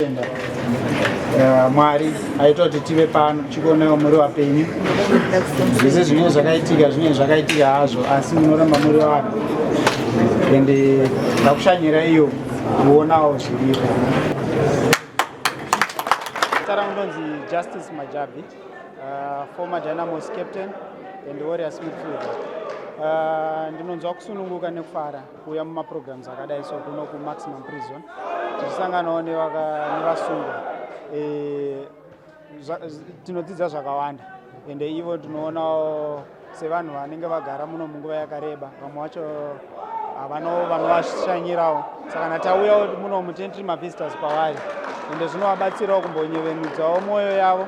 Tenda eh, Mwari aita kuti tive pano chikonewo muri wapenyu. Zvese zvinenge zvakaitika zvinenge zvakaitika hazvo asi munoramba muri vanhu and eh, ndakushanyira iyo kuonawo zviripo. Tara ndonzi Justice Majabi, uh, former Dynamos captain and Warriors midfielder. Uh, ndinonzwa kusununguka nekufara kuuya mumaprograms akadai so kuno kumaximum prison tichisanganawo nevasungwa e, tinodzidza zvakawanda ende ivo tinoonawo sevanhu vanenge vagara muno munguva yakareba vamwe vacho havano vanovashanyirawo saka natauyawo muno mutentry mavisitors kwavari ende zvinovabatsirawo kumbonyevenudzawo mwoyo yavo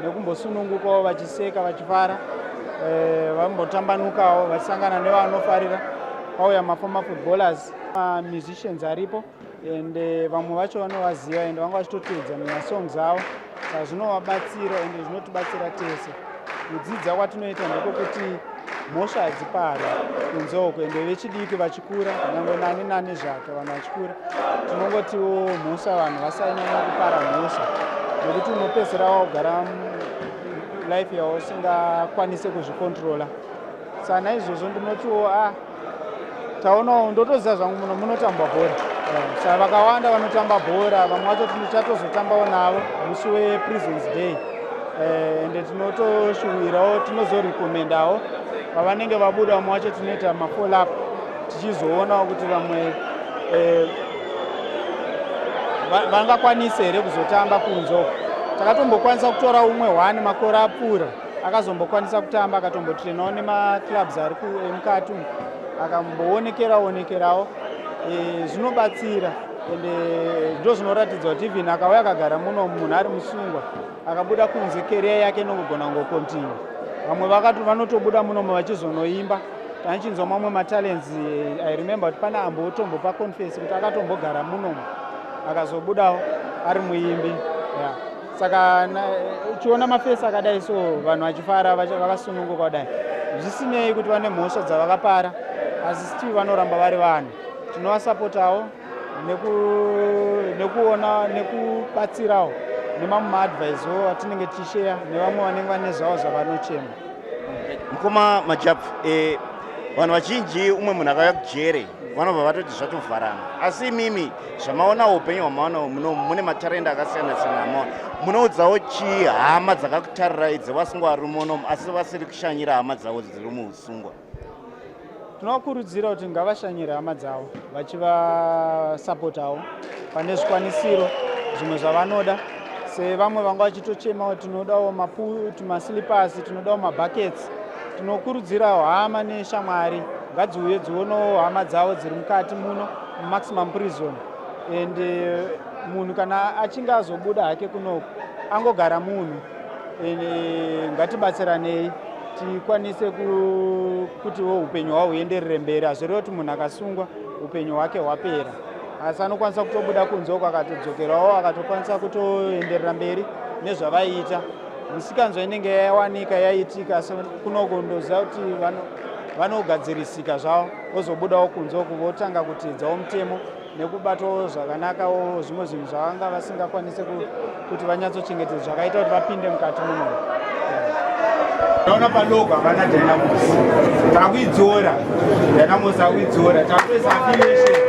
nekumbosunungukawo vachiseka vachifara eh, vambotambanukawo vachisangana nevanofarira kwauya maformer footballers mamusicians aripo and eh, vamwe vacho vanovaziva and vanga vachitoteedza mumasongs avo saka zvinovabatsira and zvinotibatsira tese kudzidza kwatinoita ndekwekuti mhosva hadzipari kunze uko ende vechidiki kura nyangwe nani nani zvake vanhu vachikura tinongotiwo mhosva vanhu vasanyanya kupara mhosva nekuti unopedzisira wakugara life yawo usingakwanise kuzvikontrola sa naizvozvo ndinotiwo a ah, taonawo ndotoziva zvangu muno munotambwa bhora eh, sa vakawanda vanotamba bhora vamwe vacho tichatozotambavo navo musi wepresence day eh, ende tinotoshuvirawo tinozorekomendawo pavanenge vabuda vamwe wacho tinoita mafollow up tichizoonawo kuti vamwe eh, vangakwanise here kuzotamba kunzo takatombokwanisa kutora umwe one makore apfuura akazombokwanisa kutamba akatombotrinawo nemaclubs ari emukati akamboonekera onekerawo eh, zvinobatsira ende eh, ndo zvinoratidza kuti even akauya akagara muno munhu ari musungwa akabuda kunze keriya yake inongogona kungokontinue vamwe vanotobuda munomo vachizonoimba tanichinzwa mamwe matalents eh, i remember kuti pane ambo otombo paconfense kuti akatombogara munomo akazobudawo ari muimbi yeah. saka eh, uchiona mafesi akadai so vanhu vachifara vakasununguka kudai zvisinei kuti vane mhosva dzavakapara asi stii vanoramba vari vanhu tinovasapotawo nekuona nekubatsirawo nemamwe maadvise wo atinenge tichisheya nevamwe vanenge vane zvavo zvavanochema mukoma majab eh, vanhu vazhinji umwe munhu akauya kujere vanobva vatoti zvatovharana asi imimi zvamaonawo upenyu hwamaonawo muno mune matarenda akasiyana siyana amao munoudzawo chii hama dzakakutarirai dzevasungwa vari muno asi vasiri kushanyira hama dzavo dziri muusungwa tinovakurudzira kuti ngavashanyire hama dzavo vachivasapotawo pane zvikwanisiro zvimwe zvavanoda sevamwe vanga vachitochemawo tinodawo maputumasilipasi tinodawo mabhakets tinokurudzirawo hama neshamwari ngadziuye dzionawo hama dzavo dziri mukati muno mumaximum prison and eh, munhu kana achinge azobuda hake kunoku angogara munhu eh, ngatibatsiranei tikwanise kutiwo upenyu hwavo huenderere mberi hazvireve kuti munhu akasungwa upenyu hwake hwapera asi anokwanisa kutobuda kunze uko akatodzokerawo akatokwanisa kutoenderera mberi nezvavaiita misikanzwa inenge yawanika yaitika asi kunoko ndoziva kuti vanogadzirisika zvavo vozobudawo kunze uku votanga kutiidzawo mutemo nekubatawo zvakanakawo zvimwe zvinhu zvavanga vasingakwanise kuti vanyatsochengetedza zvakaita kuti vapinde mukati muno taona padoko havana dynamos takuidzora dynamos takuidzora takuisa affiliation